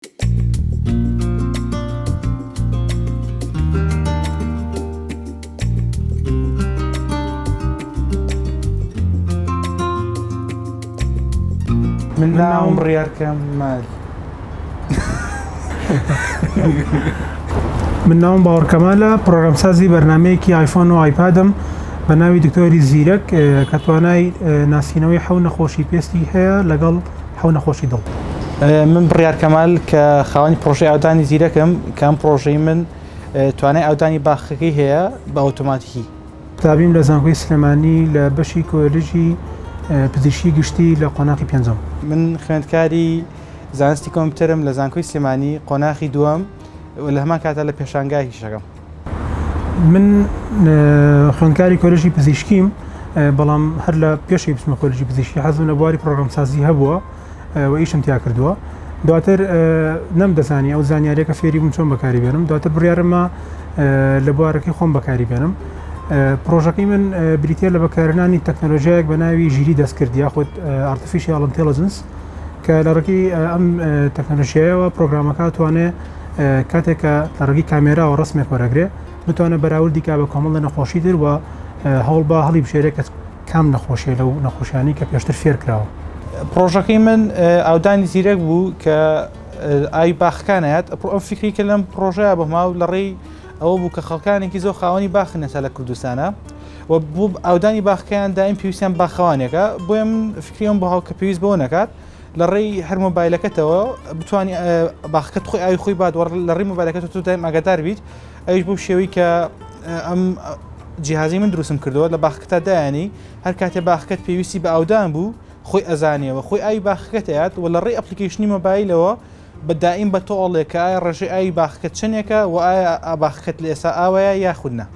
من ناوم ڕیار کەم مال من ناوم باوەڕکەمالە پرۆگرامسازی بەرنمەیەکی آیفۆن و آیپادم بە ناوی دکتۆری زیرەک کە توانای ناسینەوەی حەو نەخۆشی پێستی هەیە لەگەڵ حەو نەخۆشی دڵ. من بڕیار کەمال کە خاوەنی پرۆژەی ئاودانی زیرەکم کە ئەم پرۆژەی من توانای ئاودانی باخەکەی هەیە بە ئۆتۆماتیکی. قوتابیم لە زانکۆی سلێمانی لە بەشی کۆلێژی پزیشکی گشتی لە قۆناخی پێنجەم. من خوێندکاری زانستی کۆمپیوتەرم لە زانکۆی سلێمانی قۆناخی دووەم و لە هەمان کاتە لە پێشانگا هیشەکەم. من خوێندکاری کۆلژی پزیشکیم بەڵام هەر لە پێشی بچمە کۆلژی پزیشکی حەزم لە بواری پرۆگرامسازی هەبووە و ئیشم تیا کردووە دواتر نەم دەزانی ئەو زانیارێکە فێری بووم چۆن بەکاری بێنم دواتر بڕارمە لە بوارەکەی خۆم بەکاری بێنم پرۆژەکەی من بریتە لە بەکارنانی تەکنەلۆژیایەک بە ناوی ژیری دەستکرد یاخود ئارتفیشیاڵنتەلجنس کە لەڕکی ئەم تەکنەلۆژیایەوە پرۆگرامەکە توانێت کاتێک کە لە ڕگی کامێراوە ڕسمێک وەرەگرێ بتوانە بەراوردی کا بە کۆمەڵ لە نەخۆشی تر وە هەوڵ با هەڵی بشێرێ کە کام نەخۆشیە لەو نەخۆشیانی کە پێشتر فێر کراوە پرۆژەکەی من ئاودانی زیرەک بوو کە ئای باخکانایەت ئەم فکری کە لەم پرۆژەیە بەما و لە ڕێی ئەوە بوو کە خەڵکانێکی زۆ خاوەنی باخنێسا لە کوردستانە و بوو ئاودانی باخکەیان دایم پێویستیان باخەوانێکە بۆیە من فکریم بەهاو کە پێویست بۆ نەکات لە ڕێی هەر مۆبایلەکەتەوە بتانی باخەکەت خۆی ئاوی خۆی بادوەڕ لە ڕێی مۆبایلەکەت تۆ دایم ئاگادار بیت ئەوش بۆ شێوەی کە ئەم جیهازی من دروستم کردەوە لە باخکتا دایانی هەر کاتێ باخکەت پێویستی بە ئاودان بوو خۆی ئەزانیەوە خۆی ئای باخەکەتەیات و لە ڕێی ئەپلیکیشنی مۆبایلەوە بە دائیم بە تۆ ئەڵێ کە ئایا ڕێژەی ئاوی باخەکەت چەندێکە و ئایا باخەکەت لە ئێستا ئاوایە یاخود نا.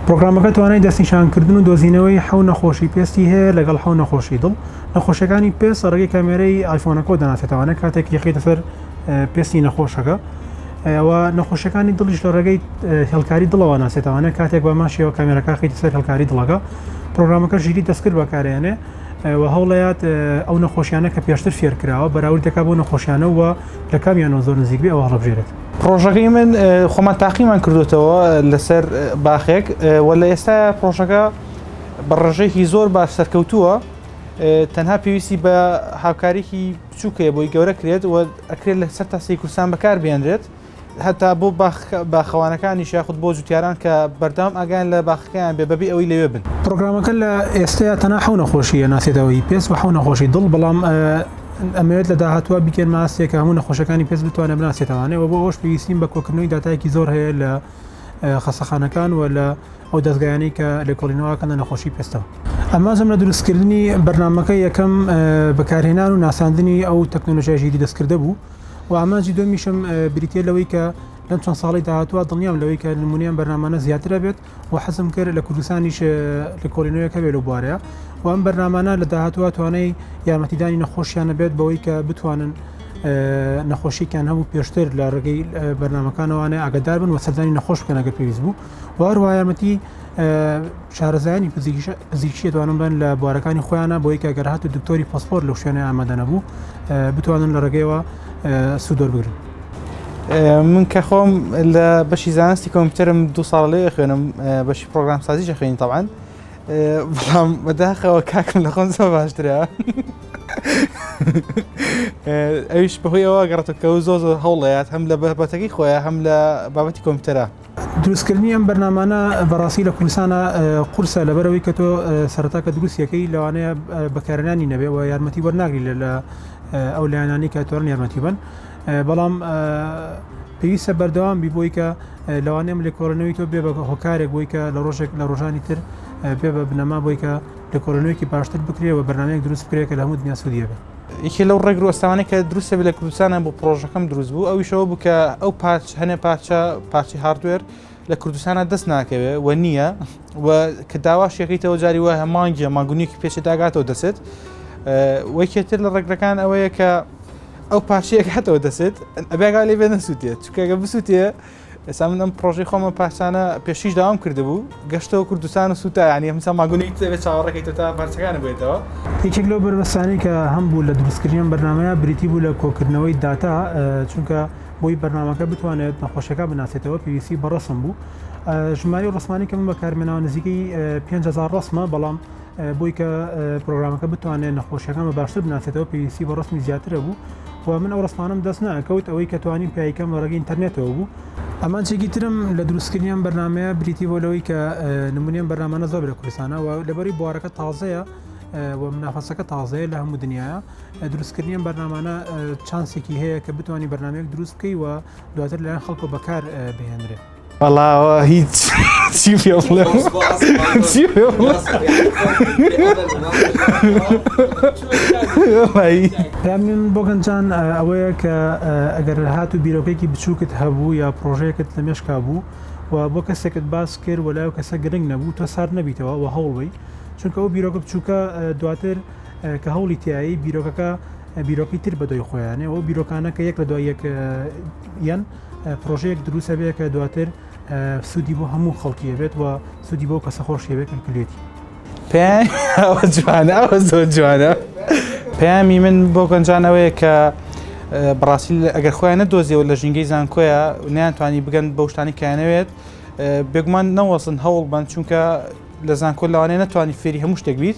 پرۆگرامەکە توانای دەستنیشانکردن و دۆزینەوەی حەو نەخۆشی پێستی هەیە لەگەڵ حەو نەخۆشی دڵ، نەخۆشیەکانی پێست لە ڕێگەی کامێرەی ئایفۆنەکەوە دەناسێتەوانە کاتێک یەخەیتە سەر پێستی نەخۆشەکە و نەخۆشیەکانی دڵیش لە ڕێگەی هێڵکاری دڵەوە ناسێتەوانە کاتێک بە هەمان شێوە کامێرەکە خەیتە سەر هێڵکاری دڵەکە پرۆگرامەکە ژیری دەستکرد بەکارێنێ و هەوڵەیات ئەو نەخۆشیانە کە پێشتر فێرکراوە بەراورد دەکات بۆ نەخۆشیانە و لە کامیانەوە زۆر نزیک بێ ئەو هەڵبژێرێت پرۆژەکەی من خۆمان تاقیمان کردوتەوە لەسەر باخێک و لە ئێستا پرۆژەکە بە ڕژێکی زۆر باش سەرکەوتووە تەنها پێویستی بە هاوکارێکی بچووکەیە بۆی گەورە کرێت و ئەکرێت لە سەر تاسی کورسان بەکار بێنرێت هەتا بۆ باخەوانەکانیش یاخود بۆ جوتیاران کە بەردەوام ئاگایان لە باخەکەیان بێ بەبێ ئەوەی لەوێ بن. پرۆگرامەکە لە ئێستەیا تەنها حەو نەخۆشی ئەناسێتەوە ئی پێست و حەو نەخۆشی دڵ، بەڵام ئەمەوێت لە داهاتووە بیکەین ماستێک کە هەموو نەخۆشەکانی پێست بتوانێت بناسێتەوانێ و بۆ ئەوەش پێویستین بە کۆکردنەوەی داتایەکی زۆر هەیە لە خەسەخانەکان و لە ئەو دەزگایانەی کە لێکۆڵینەوەکەن لە نەخۆشی پێستەوە ئامانجم لە دروستکردنی بەرنامەکە یەکەم بەکارهێنان و ناساندنی ئەو تەکنەلۆژیای ژیری دەستکردە بوو و ئامانجی دومیشم بریتە لەوەی کە لەم چەند ساڵی داهاتوە دڵنیام لەوەی کە نمونیان بەرنامانە زیاترە بێت و حەزم کرد لە کوردستانیش لە کۆلینەوەیەکە بێت لە بوارەیە و ئەم بەرنمانە لە داهاتوە توانای یارمەتیدانی نەخۆشیانە بێت بەوەی کە بتوانن نەخۆشیکان هەبوو پێشتر لە ڕێگەی بەرنمەکانەوانە ئاگدار بن و سەردانی نەخۆش بکەنەگە پێویست بوو وارواایەمەتی شارەزایانی پزیشکی توانم بن لە بوارەکانی خۆیانە بۆی کە گەرهات و دکتۆری پۆسپۆر لەو شوێنە ئامادەنەبوو بتوانن لە ڕێگەیەوە سوودۆر بگرن. من کە خۆم لە بەشی زانستی کۆمپیوتەرم دو ساڵ لێ خوێنم بەشی پرۆگرام سازیشە خوێنی تاوان بەڵام بەداخەوە کاکم لە خۆم زۆ باشترە ئەوش بەهۆی ئەوە گەڕێتەوە کە زۆ زۆر هەوڵەیات هەم لە بەربەتەکەی خۆیان هەم لە بابەتی کۆمپیوتەرە دروستکردنی ئەم بەرنامانە بەڕاستی لە کوردستانا قورسە لەبەرەوەی کە تۆ سەرەتا کە دروستیەکەی لەوانەیە بەکارێنانی نەبێ و یارمەتی وەرناگری لە لە ئەو لایەنانی کە توانن یارمەتی بن بەڵام پێویستە بەردەوام بی بۆی کە لەوانێ ئەم لێکۆڵەنەوەی تۆ بێ بە هۆکارێک بۆی کە لە ڕۆژێک لە ڕۆژانی تر بێ بە بنەما بۆی کە لە کۆلۆنیەکی باشتر بکرێ و بەرنمەیەک دروست بکرێت کە لە هەموو دنیا سودیە بێت یەکێ لەو ڕێگر و ئەستاوانەی کە دروستە بێت لە کوردستانە بۆ پرۆژەکەم دروست بوو ئەویش ئەوە بوو کە ئەو پارچ هەنێ پارچە پارچی هاردوێر لە کوردستانە دەست ناکەوێ و نییە و کە داواش یەکەیتەوە جاری وایە مانگیە ماگونیەکی پێچێت داگاتەوە دەچێت وەکێتر لە ڕێگرەکان ئەوەیە کە ئەو پارچەیەک هاتەوە دەچێت ئەبێگا لێ بێ نەسووتێت چکەگە بسووتێ ئێستا من ئەم پرۆژەی خۆمە پارچانە پێشیش داوام کردبوو گەشتەوە کوردستان و سوتا ینی هەمسا ماگونی بێت چاوەڕێکیتە تا پارچەکان بێتەوە یەکێک لەو بەربەستانی کە هەم بوو لە دروستکردنیان بەرنمەیە بریتی بوو لە کۆکردنەوەی داتا چونکە بۆی بەرنمەکە بتوانێت نەخۆشەکە بناسێتەوە پێویستی بەڕسم بوو ژماری ڕسمانی کە من بە کارمێنەوە نزیکەی 500 ڕسمە بەڵام بۆی کە پرۆگرامەکە بتوانێت نەخۆشیەکان بە باشتر بناسێتەوە پێویستی بە ڕستمی زیاترە بوو و من ئەو ڕستمانم دەست ناکەوت ئەوەی کە توانیم پیایکەم لە ڕێگە ئینتەرنێتەوە بوو ئامانجێکی ترم لە دروستکردنیان بەرنمەیە بریتی بۆ لەوەی کە نمونیان بەرنمانە زۆر لە کوردستانە و لەبەری بوارەکە تازەیە و منافەسەکە تازەیە لە هەموو دنیاە دروستکردنیان بەرنمانە چانسێکی هەیە کە بتانی بەرنمێک دروست بکەی و دواتر لەیان خەڵکۆ بەکار بهێنرێت. بەڵاوە هیچ چی پێ بڵێم چی پێ بڵێم دامین بۆگەنجان ئەوەیە کە ئەگەر هات و بیرۆکێکی بچووکت هەبوو یا پرۆژەیەکت لە مێشکا بوو و بۆ کەسێکت باس کرد وەلا و کەسە گرنگ نەبوو تۆ سار نەبیتەوە و هەوڵی چونکە ئەو بیرۆکە بچووکە دواتر کە هەوڵی تایی بیرۆکەکە بیرۆکی تر بەدوای خۆیانێ و بیرۆکانەکە یەک لە دوای یەک یەن پرۆژەیەک دروست ئەبێت کە دواتر سوودی بۆ هەموو خەڵکی ئەبێت و سوودی بۆ کەسە خۆش ئەبێت کە کلێتی پێیان ئەوە جوانە ئەوە زۆر جوانە پەیامی من بۆ گەنجان ئەوەیە کە بڕاستی ئەگەر خۆیان نەدۆزیەوە لە ژینگەی زانکۆیە نیانتوانی بگەن بەو شتانی کایانەوێت بێگومان نەوەسن هەوڵ بن چونکە لە زانکۆ لەوانەیە نتوانانی فێری هەموو شتێک بیت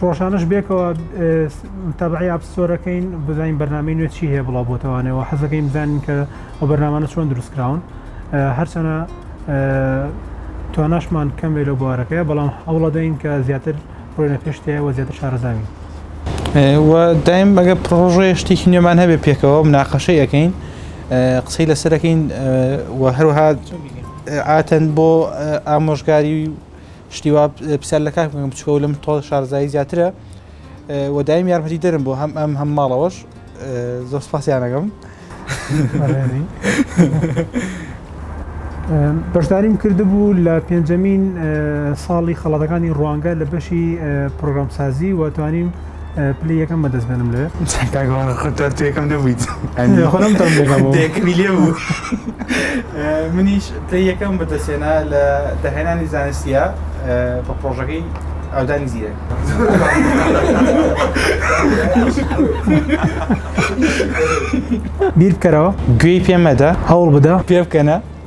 ڕۆژانەش بێکەوە تەبعی ئاپستۆرەکەین بزانین بەرنامی نوێ چی هەیە بڵا بۆتەوانەوە حەزەکەین بزانین کە ئەو بەرنامانە چۆن دروستکراون هەرچەنە تواناشمان کەم لێ لە بوارەکەی بەڵام هەوڵەدەین کە زیاتر ڕۆێنە پێشتەیە وە زیاتر شارەزاوین دایم بەگە پرۆژێ شتێکی نوێمان هەبێ پێکەوە مناقەشەی یەکەین قسەی لەسەرەکەین وە هەروها ئاتەن بۆ ئامۆژگاری و شتی وا پرسیار لە کاک بکەم بچکەوە لەم تۆ شارزایی زیاترە و دایم یارمەتی دەرم بۆ هەم ئەم هەم ماڵەوەش زۆر سپاسیانەکەم بەشداریم کردبوو لە پێنجەمین ساڵی خەڵاتەکانی ڕوانگە لە بەشی پرۆگرامسازی و توانیم پلی یەکەم بەدەست بێنم لێ یەکەم نەبوویت خۆمکەمی لێ بوو منیش پلی یەکەم بەدەستێنا لە داهێنانی زانستیە بە پرۆژەکەی ئەودانی زیرە بیر بکەرەوە گوێی پێمەدە هەوڵ بدە پێ بکەنە